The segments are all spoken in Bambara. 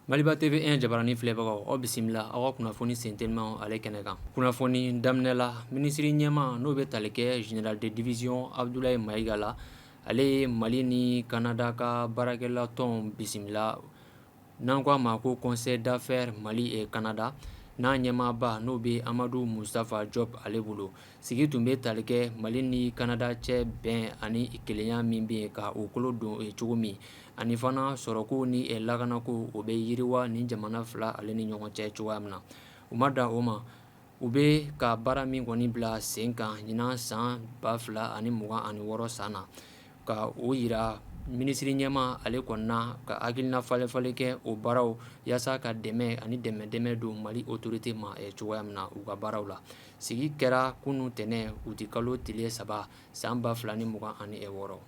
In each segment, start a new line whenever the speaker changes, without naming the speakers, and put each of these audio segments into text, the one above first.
Maliba TV1 jabaranin filɛbagaw aw bisimila aw ka kunnafoni senteliman ale kɛnɛ kan kunnafoni daminɛla minisiri ɲɛmaa n'o bɛ tali kɛ jenerali de division abudulayi mayiga la ale ye mali ni kanada ka baarakɛlatɔn bisimila n'an k'a ma ko conseil d'affaires mali et kanada n'a ɲɛmaaba n'o bɛ amadu musutafa jɔp ale bolo sigi tun bɛ tali kɛ mali ni kanada cɛ bɛn ani kelenya min bɛ yen ka o kolo don ye cogo min ani fana sɔrɔko ni lakanako o bɛ yiriwa ni jamana fila ale ni ɲɔgɔn cɛ cogoya min na u ma dan o ma u bɛ ka baara min kɔni bila sen kan ɲinan san ba fila ani mugan ani wɔɔrɔ san na ka o jira minisiri ɲɛmaa ale kɔni na ka hakilina falenfalen kɛ o baaraw yaasa ka dɛmɛ ani dɛmɛ dɛmɛ don mali otorite ma cogoya min na u ka baaraw la sigi kɛra kunun tɛnɛn uti kalo tile saba san ba fila ni mugan ani wɔɔrɔ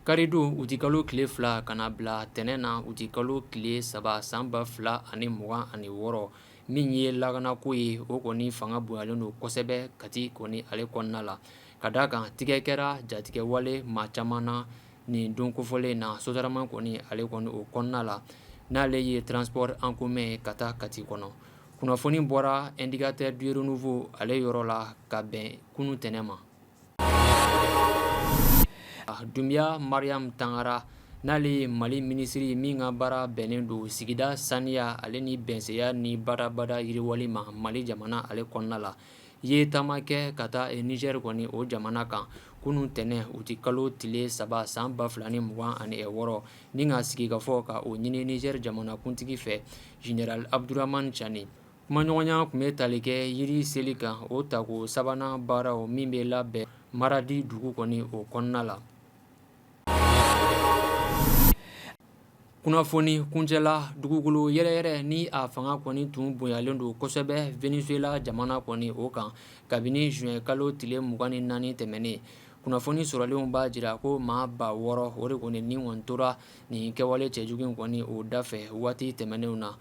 Karidon uti kalo tile fila ka na bila tɛnɛn na uti kalo tile saba san ba fila ani mugan ani wɔɔrɔ min ye lakanako ye o kɔni fanga bonyalen don kosɛbɛ kati kɔni ale kɔnɔna la ka d'a kan tigɛ kɛra jatigɛwale maa caman na nin don kofɔlen na sotarama kɔni ale kɔni o kɔnɔna la n'ale ye transport en commun ka taa kati kɔnɔ kunnafoni bɔra indicateur du renouveau ale yɔrɔ la ka bɛn kunun tɛnɛn ma Dunbiya mariam tangara n'ale ye mali minisiri min ka baara bɛnnen don sigida saniya ale ni bɛsɛya ni badabada yiriwali ma mali jamana ale kɔnɔna la ye taama kɛ ka taa nizɛri kɔni o jamana kan kunun tɛnɛn uti kalo tile saba san ba fila ni mugan ani wɔɔrɔ ni ka sigikafɔ ka o ɲini nizɛri jamanakuntigi fɛ jenerali abuduramani cani Kumaɲɔgɔnya tun bɛ tali kɛ yiri seli kan o tako sabanan baaraw min bɛ labɛn maradi dugu kɔni o kɔnɔna la kunnafoni kuncɛla dugukolo yɛrɛyɛrɛ ni a fanga kɔni tun bonyalen don kosɛbɛ venezuela jamana kɔni o kan kabini zuwɛn kalo tile mugan ni naani tɛmɛnen kunnafoni sɔrɔlenw b'a jira ko maa ba wɔɔrɔ o de kɔni ni tora nin kɛwale cɛjugu in kɔni o da fɛ waati tɛmɛnenw na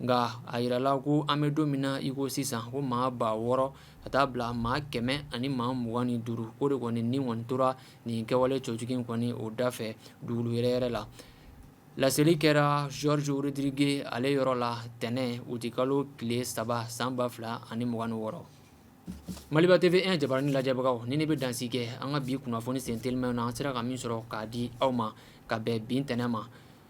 nka a jirala ko an bɛ don min na i ko sisan ko maa ba wɔɔrɔ ka taa bila maa kɛmɛ ani maa mugan ni duuru o de kɔni ni kɔni tora nin kɛwale cɛjugu kɔni o da fɛ dugukolo yɛrɛyɛrɛ la laseli kɛra jorge rodriguez ale yɔrɔ la tɛnɛn uti kalo tile saba san ba fila ani mugan ni wɔɔrɔ maliba TV1 jabaranin lajɛbagaw nin in bɛ dansi kɛ an ka bi kunnafoni senteliman na an sera ka min sɔrɔ k'a di aw ma ka bɛn bi tɛnɛn ma